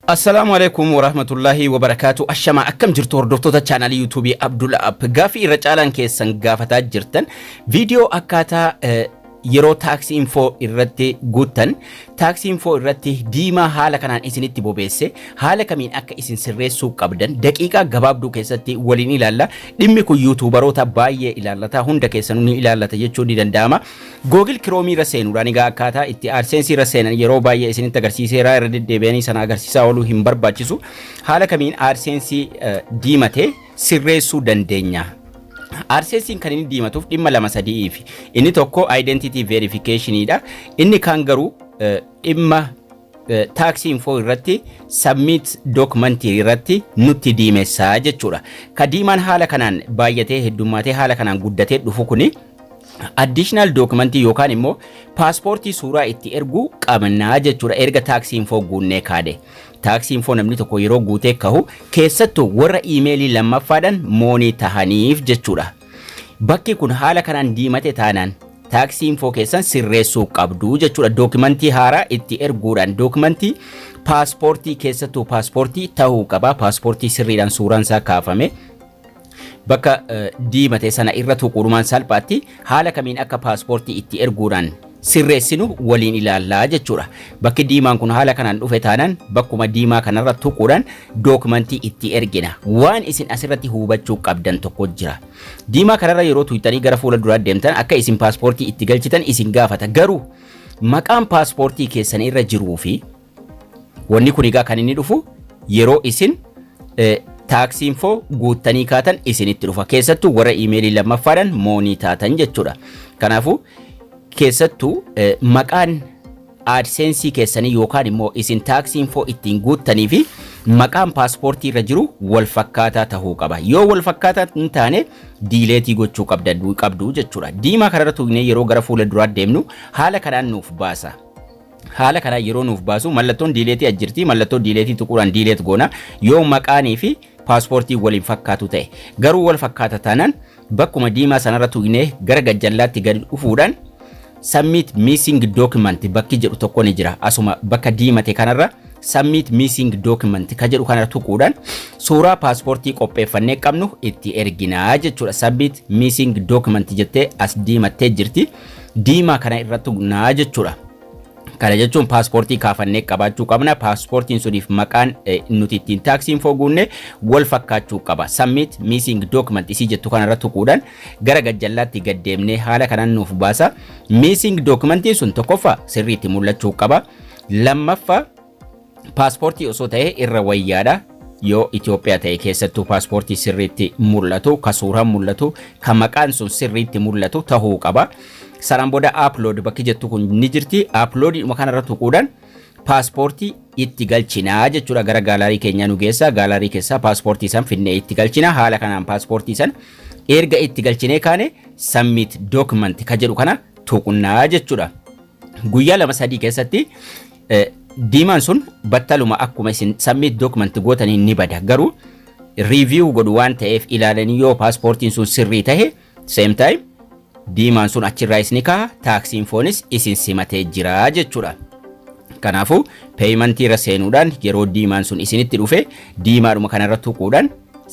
Assalaamu Aleeykum Warahmatullaahi Wabarakaatu Ashamaa akkam jirtu hordoftoota chaanaalii yuutuubii Abdul App gaaffii irra caalaan keessan gaafataa jirtan viidiyoo akkaataa eh, yeroo taaksii infoo irratti guuttan taaksii infoo irratti diimaa haala kanaan isinitti bobeesse haala kamiin akka isin sirreessuu qabdan daqiiqaa gabaabduu keessatti waliin ilaalla dhimmi kun yuutuubaroota baay'ee ilaallataa hunda keessanuu ni ilaallata jechuun ni danda'ama Google Chrome irra seenuudhaan egaa akkaataa itti AdSense irra seenan yeroo baay'ee isinitti agarsiiseera irra deddeebi'anii sana agarsiisaa ooluu hin barbaachisu. Haala kamiin AdSense eh, diimate sirreessuu dandeenya? AdSense'n kan inni diimatuuf dhimma lama sadi'iif. Inni tokko identity verification dha. Inni kaan garuu eh, dhimma Tax info irratti submit document irratti nutti diimessa jechuudha. Ka diimaan haala kanaan baay'atee heddummaatee haala kanaan guddatee dhufu kuni additional document yookaan immoo paaspoortii suuraa itti erguu qabnaa jechuudha erga tax info guunnee kaade. Tax info namni tokko yeroo guutee kahu keessattuu warra iimeelii lammaffaadhaan moonii tahaniif jechuudha. Bakki kun haala kanaan diimate taanaan taaksii infoo keessan sirreessuu qabdu jechuudha. Dookimantii haaraa itti erguudhaan dookimantii paaspoortii keessattuu paaspoortii ta'uu qaba. Paaspoortii sirriidhaan suuraan isaa kaafame bakka diimate sana irra tuquudhumaan salphaatti haala kamiin akka paaspoortii itti erguudhaan sirreessinu waliin ilaalla jechuudha. Bakki diimaan kun haala kanaan dhufe taanaan bakkuma diimaa kanarra tuquudhaan dookimantii itti ergina. Waan isin asirratti hubachuu qabdan tokko jira. Diimaa kanarra yeroo tuqxanii gara fuula duraa deemtan akka isin paaspoortii itti galchitan isin gaafata. Garuu maqaan paaspoortii keessan irra jiruu fi Wanni kun egaa kan inni dhufu yeroo isin taaksii infoo guuttanii kaatan isinitti dhufa. Keessattuu warra iimeelii lammaffaadhaan moonii taatan jechuudha. Kanaafuu keessattuu maqaan aadseensii keessanii yookaan immoo isin taaksii infoo ittiin guuttanii fi maqaan paaspoortii irra jiru wal fakkaataa ta'uu qaba. Yoo wal fakkaataa hin taane diileetii gochuu qabdu jechuudha. Diimaa kanarra tuugnee yeroo gara fuula duraa deemnu haala kanaan nuuf baasa. Haala kanaan yeroo nuuf baasu mallattoon diileetii as jirti. Mallattoo diileetii tuquudhaan diileet goona. Yoo maqaanii fi paaspoortiin wal hin fakkaatu ta'e. Garuu wal fakkaata taanaan bakkuma diimaa sanarra tuqnee gara gajjallaatti gadi dhufuudhaan submit missing document bakki jedhu tokko ni jira. Asuma bakka diimate kanarra submit missing document ka jedhu kanarra tuquudhaan suuraa paaspoortii qopheeffannee qabnu itti erginaa jechuudha. Submit missing document jettee as diimattee jirti. diimaa kana irra tuqnaa jechuudha. Kana jechuun paaspoortii kaafannee qabaachuu qabna. Paaspoortiin suniif maqaan eh, nuti ittiin taaksii infoo guunne wal fakkaachuu qaba. Submit missing document isii jettu kanarra tuquudhaan gara gajjallaatti gad deemnee haala kanaan nuuf baasa. Missing documentiin sun tokkoffaa sirriitti mul'achuu qaba. Lammaffaa Paaspoortii osoo ta'ee irra wayyaadha. Yoo Itoophiyaa ta'e keessattuu paaspoortii sirriitti mul'atu, ka suuraan mul'atu, ka maqaan sun sirriitti mul'atu tahuu qaba. Sanaan booda upload bakki jettu kun ni jirti. Upload dhuma kanarra tuquudhaan paaspoortii itti galchinaa jechuudha gara gaalaarii keenyaa nu geessa. Gaalaarii keessaa paaspoortii san finnee itti galchina. Haala kanaan paaspoortii san erga itti galchinee kaane submit document ka jedhu kana tuqnaa jechuudha. Guyyaa lama sadii keessatti Diimaan sun battaluma akkuma isin submit document gootaniin ni bada garuu review godhu waan ta'eef ilaalanii yoo paaspoortiin sun sirrii tahe same time diimaan sun achirraa isni kaha taaksiin foonis isin simatee jira jechuudha. Kanaafuu peeyimantii irra seenuudhaan yeroo diimaan sun isinitti dhufe diimaadhuma kanarra tuquudhaan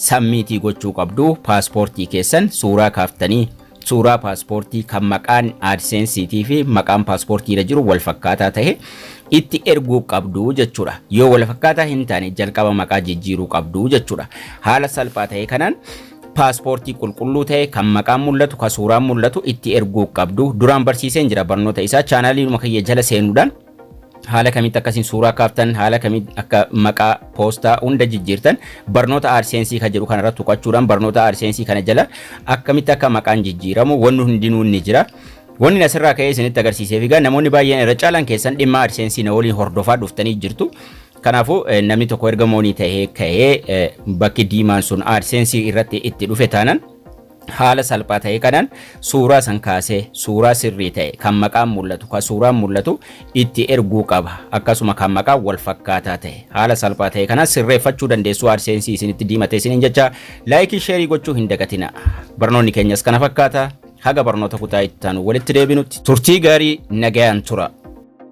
sammiitii gochuu qabdu paaspoortii keessan suuraa kaaftanii Suuraa paaspoortii kan maqaan AdSense fi maqaan paaspoortii irra jiru wal fakkaataa ta'e itti erguu qabdu jechuudha. Yoo wal fakkaataa hin taane jalqaba maqaa jijjiiruu qabdu jechuudha. Haala salphaa ta'e kanaan paaspoortii qulqulluu ta'e kan maqaan mul'atu kan suuraan mul'atu itti erguu qabdu. Duraan barsiiseen jira barnoota isaa chaanaaliinuma kiyya jala seenuudhaan haala kamitti akkasiin suuraa kaaftan haala kamitti akka maqaa poostaa hunda jijjiirtan barnoota aadseensii kan jedhu kanarratti tuqachuudhaan barnoota aadseensii kana jala akkamitti akka maqaan jijjiiramu wanni hundinuu ni jira. Wanni asirraa ka'ee isinitti agarsiiseef egaa namoonni baay'een irra caalaan keessan dhimma aadseensii na waliin hordofaa dhuftanii jirtu. Kanaafuu namni tokko erga moonii ta'ee ka'ee bakki diimaan sun aadseensii irratti itti dhufe taanan haala salphaa ta'e kanaan suuraa san kaasee suuraa sirrii ta'e kan maqaan mul'atu kan suuraan mul'atu itti erguu qaba akkasuma kan maqaan wal fakkaataa ta'e haala salphaa ta'e kanaan sirreeffachuu dandeessuu arseensi isinitti diimate isiniin jecha laayikii sheerii gochuu hin dagatina barnoonni keenyas kana fakkaata haga barnoota kutaa itti aanu walitti deebinutti turtii gaarii nagayaan tura.